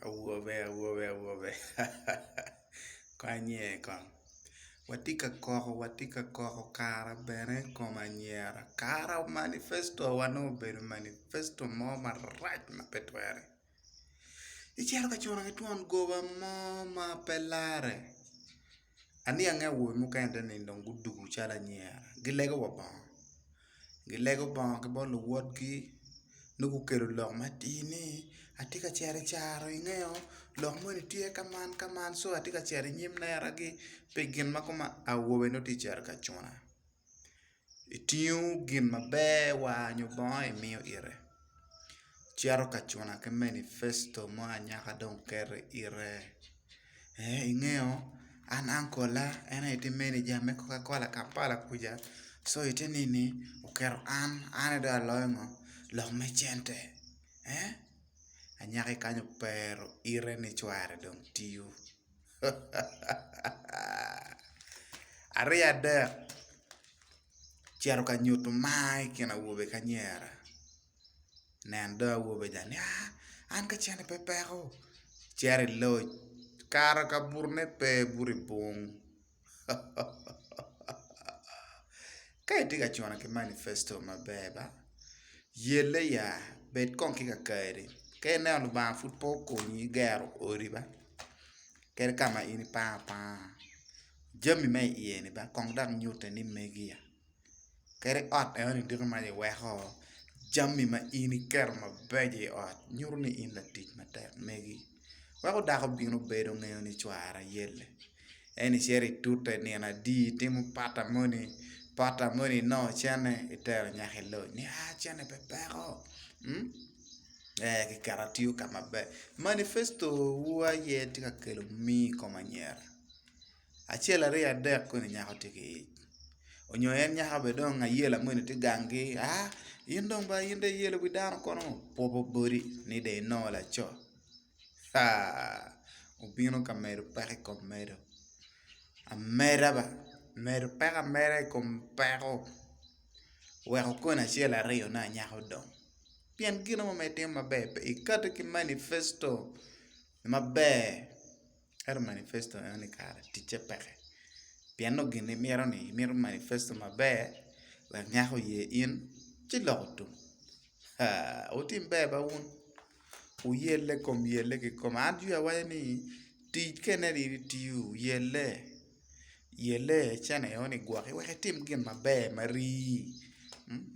Awobe awobe awobe hahahaa konye kong watye ka koko watye ka koko kara bene kom anyira kara manifesto wa nongo obedo manifesto mo marac ma pe twere icito ka cono ki twon goba mo ma pe lare. Aniange awobe mukene te nino dong gudugo calo anyira gilego wa bongo gilego bongo ki bot luwotgi nongo gukelo lok matir ni atye ka cito i caro ingeyo lok moni tye ka man ka man so atye ka cito inyim neragi pi gin ma koma awobe nongo tye ka cito ka cuna. itingo gin maber wa nyo bongo imiyo ite cito ka cuna ki manifesto mo anyaka dong oketo ite ee ingeyo an ankola en aye tye meneja me koka kola kampala kuca so ite nini oketo an an aye dong aloyo ngo lok me cente ee anyaka kany opero ite ni cware dong tiyo. aryo adek ocito ka nyuto mar i kin awobe ki anyira nen dong awobe ca ni aa an ka cente pe peko cito i loc kato ka bute pe buto i pung. Ka itye ka cono ki manifesto maber ba, yelle ya, bed kong ki kakari. Ka ineno Lubanga pud pe okonyi gero odi ba, kadi ka ma in ipango apanga, jami ma iye ni ba kong dok nyutte ni megi ya. kadi ot enoni dito ma iweko jami ma in iketo mabeco i ot nyuto ni in latic matek megi weko dako bino bedo ngeyo ni cwara yelle ento icito itute nino adi itimo pata moni pata moni inongo cene itero nyaka i loc ni aa cene pe peko ee kiketa tiyo ka maber manifesto wa aye tye ka kelo mii i kom anyira. Acel aryo adek koni nyako tye ki ic onyo en nyako bene dong ayela moni tye gangi aa in dong ba in dong iyelo wi dano kono opopo bodi ni dong inongo laco aa obino ka medo peko i kom medo ameda ba medo peko ameda i kom peko weko koni acel aryo ne anyaka odong pien gino mo ma itimo maber pe ikati ki manifesto maber. ento manifesto enoni kara ticce peke pien nongo gin imito ni imito manifesto maber wek nyak oye in ci loko tum aa wutim ber ba wun wuyelle kom yelle kikome an jwi awaca ni tic ka ineno in itiyo yelle yelle cene enoni gwoki wek itim gin maber marii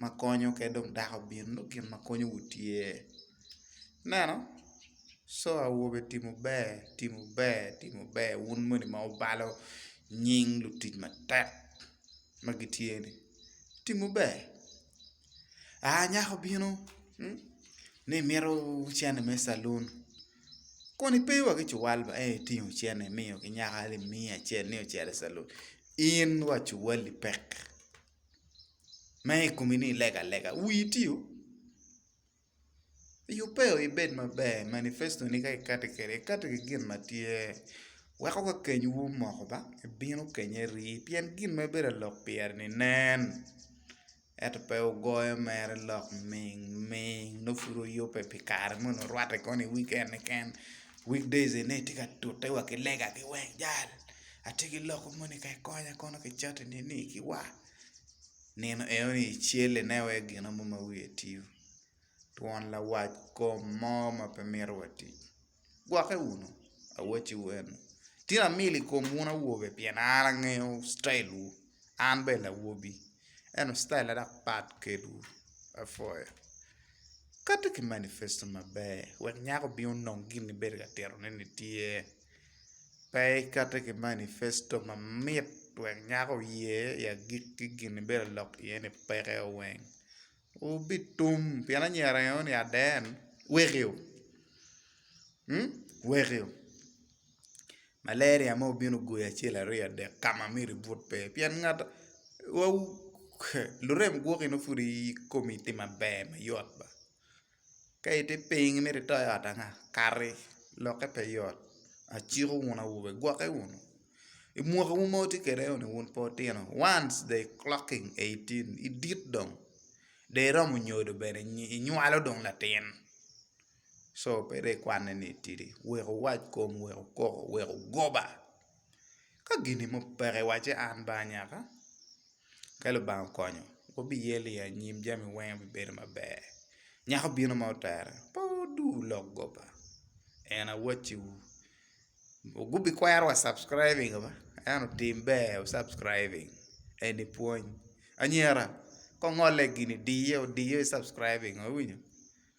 makonyo ka dong dako bino nongo gin makonyowu tye. Ineno co awobe timo ber timo ber timo ber wun moni ma wubalo nying lutic matek ma gitye ni timo ber aa nyako obino ni mito cene me calun kun pe wa ki cuwal ba ento itingo cene imiyo ki nyako ni miya acel ni ocito i calun in wa cuwali pek ma i komi ni ilega alega wii tye o. Yubbe o ibed maber manifesto ni ka ikati kwede ikati ki gin ma tye weko ka kenywu omoko ba ibino kenye ri pien gin ma ibedo ka lok pire ni nen ento pe wugoyo mere lok ming ming nongo pud wuyubbe pi kare moni orwatte kong i wiken keken week days eni aye tye ka tute wa ki lega ki weng jal atye ki lok moni ka ikonya kono ki cati nini ki wa. nino enoni icelle ine wai gino mo ma wiye tio twon lawac kom mo ma pe mito wa tic gwoke wunu awacci wu eno tino amil i kom wun awobe pien an angeyo citail wu an bene lawobi eno citaila dok pat kedwu apwoyo kati ki manifesto maber wek nyako obin onong gin ma ibedo ka tito ne ni tye pe ikato ki manifesto mamit wek nyako oye i agik ki gin ibedo alok iye ni peke weng obitum pien anyira ringo ni aden wekio wekio malaria mo obino ogoyi acel aryo adek ka ma myero ibut pe pien ngat lurem gwoki nongo pud ikomi tye maber mayot ba. Ka itye piny imito ito i ot anga kati lokke pe yot aciko wunu awobe gwokke wunu i mwaki wu ma wutye kwede ni wun pe wutino once they clocking eighteen idit dong dong iromo nyodo bene inywalo dong latin co pe dong ikwane ni itidi wek wuwac kom wek wukoko wek wugoba ka gin mo peke wacce an ba anyaka. Ka Lubanga okonyo, wubiyelo i anyim jami weng bibedo maber. Nyako bino ma otere pe oduu lok goba en awacci wu gubikwero wa subscribing ba ento tim ber wu subscribing eni pwony anyira kongole gini diyo diyo i subscribing iwinyo.